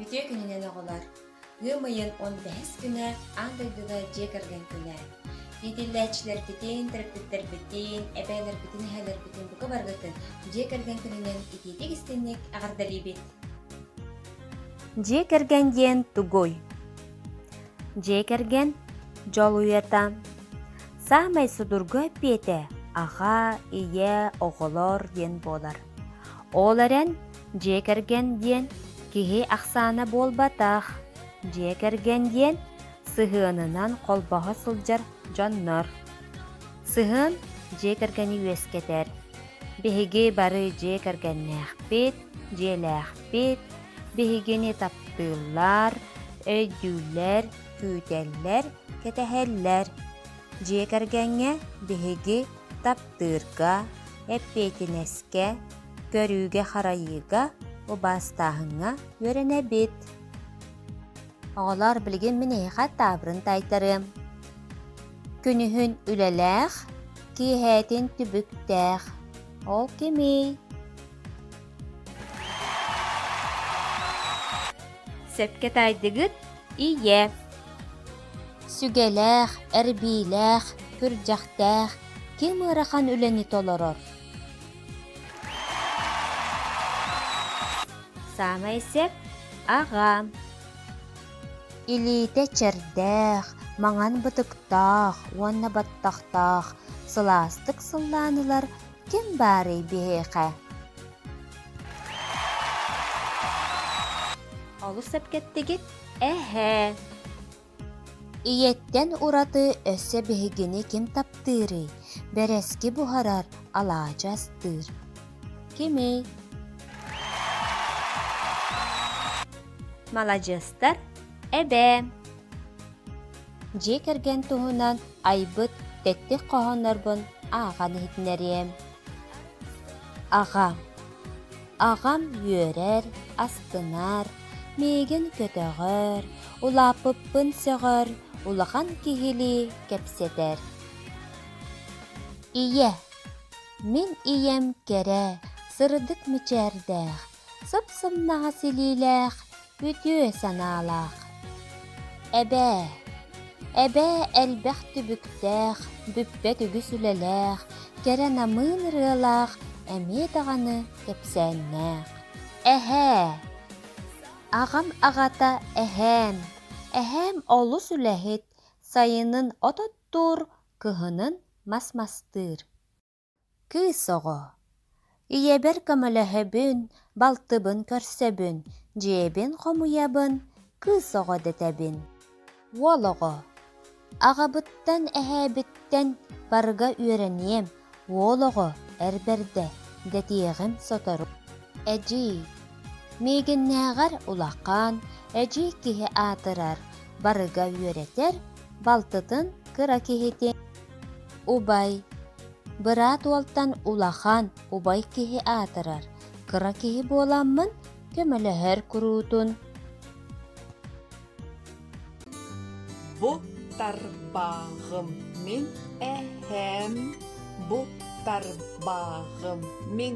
Үтүө күнүнэн оҕолор! Ыам ыйын он бэһис күнэ аан дойдуга дьиэ кэргэн күнэ. Иитиллээччилэрбитин, төрөппүттэрбитин, эбээлэрбитин, эһээлэрбитин бука баргытын дьиэ кэргэн күнүнэн итиитик истинник эҕэрдэлиибит! Дьиэ кэргэн диэн тугуй? Дьиэ кэргэн дьолуйата, Саамай судургу эппиэтэ «Аҕаа, ийээ, оҕолоор» диэн буолар. Ол эрэн, дьиэ кэргэн диэн киһи ахсаана буолбатах. Дьиэ кэргэн диэн сыһыанынан холбоһо сылдьар дьоннор. Сыһыан дьиэ кэргэни үөскэтэр. Биһиги бары дьиэ кэргэннээхпит, дьиэлээхпит, биһигини таптыыллар, өйдүүллэр, күүтэллэр, кэтэһэллэр. Дьиэ кэргэҥҥэ биһиги таптыырга, эппиэтинэскэ, көрүүгэ-харайыыга, убаастааһыҥҥа үөрэнэбит. Оҕолор билигин мин эһиэхэ таабырын таайтарыам. Күнүһүн үлэлээх, киэһээтин түбүктээх. Ол кимий? Сөпкө таайдыгыт, ийэ. Сүгэлээх, эрбиилээх, күрдьэхтээх ким ыарахан үлэни толорор? Саамай сөп аҕа. Илиитэ чэрдээх, маҥан бытыктаах уонна баттахтаах, сылаастык сыллаан ылар Ким баарый биһиэхэ? Олус сэргэттигит? Эһэ. Ийэттэн ураты өссө биһигини ким таптыырый? Бэрэски буһарар, алаадьы астыыр. Кимий? Маладьыастар, эбээм. дьиэ кэргэн туһунан айбыт тэттик хоһооннорбун ааҕан иһитиннэриэм. Аҕам Аҕам үөрэр, астынар, миигин көтөҕөр, улааппыппын сөҕөр, улахан киһилии кэпсэтэр. Ийэ Мин ийэм кэрэ, сырдык мичээрдээх, сып-сымнаҕас илиилээх, үтүө санаалаах. Эбээ, эбээ элбэх түбүктээх, бүппэт үгүс үлэлээх, кэрэ намыын ырыалаах, эмиэ даҕаны кэпсээннээх. Эһээ, аҕам аҕата эһээм, эһээм олус үлэһит, сайынын от оттуур, кыһынын мас мастыыр. Кыыс оҕо, ийэбэр көмөлөһөбүн, балтыбын көрсөбүн, дьиэбин хомуйабын, кыыс оҕо дэтэбин. Уол оҕо, аҕабыттан, эһээбиттэн барыга үөрэниэм, уол оҕо эр бэрдэ дэтиэҕим сотору. Эдьиий, миигиннээҕэр улахан, эдьиий киһи аатырар, барыга үөрэтэр, балтытын кыра киһитин. Убай Быраат уолтан улахан, убай киһи аатырар, кыра киһи буоламмын көмөлөһөр куруутун Бу тарбааҕым мин эһэм, бу тарбааҕым мин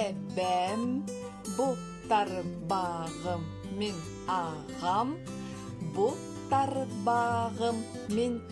эбэм, бу тарбааҕым мин аҕам, бу тарбааҕым мин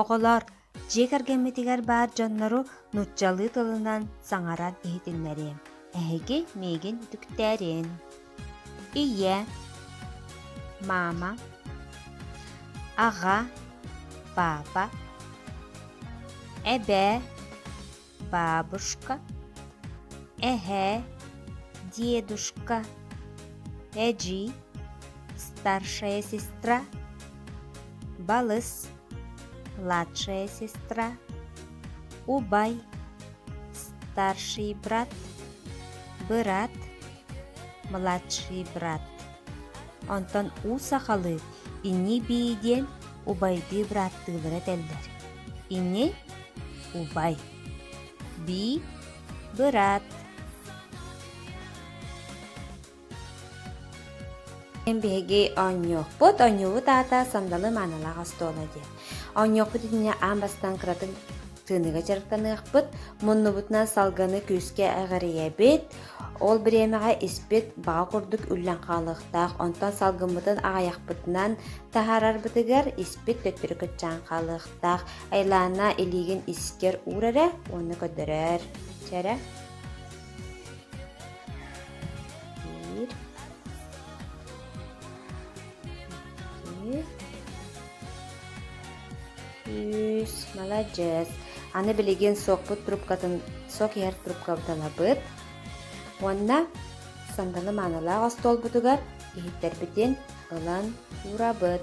Оҕолор дьиэ кэргэммитигэр баар дьоннору нууччалыы тылынан саҥаран иһитиннэриэм. Эһиги миигин үтүктээриэн. Ийэ, мама, аҕа, папа, эбээ, бабушка эһэ дедушка эдьи старшая сестра балыс младшая сестра убай старший брат бырат младший брат онтон уу сахалыы ини бии диэн убайдыы бырааттыылара этэллэр ини убай би быраат Мин биһиги оонньуохпут, оонньуубут аата сандалы маанылаах остуона диэн. Оонньуохпут итиннэ аан бастан кыратын тыыныга дьарыктаныахпыт, муннубутунан салганы күүскэ эҕэрийэбит, ол бириэмэҕэ испит баҕа курдук үллэн хаалыахтаах, онтон салгыммытын аҕайахпытынан таһаарарбытыгар испит төттөрү кыччаан хаалыахтаах. таах Айлаана илиигин искэр уур эрэ уонна көрдөрөр. Чэ эрэ. Биир. Iki. Үс. Молодец. Аны билигин сокпут трубкатын сок иһэр трубкабыталабыт. Уонна сонданы маанылаах остуолбутугар иһиттербитин ылан уурабыт.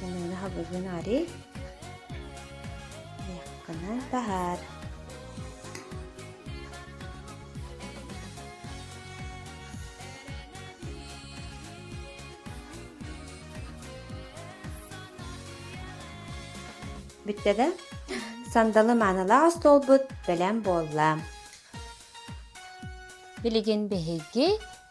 Галина Хабыгынари Яхканан таһаар Бүттэ да? Сандалы маанылаах остуолбут бэлэм буолла. Билигин биһиги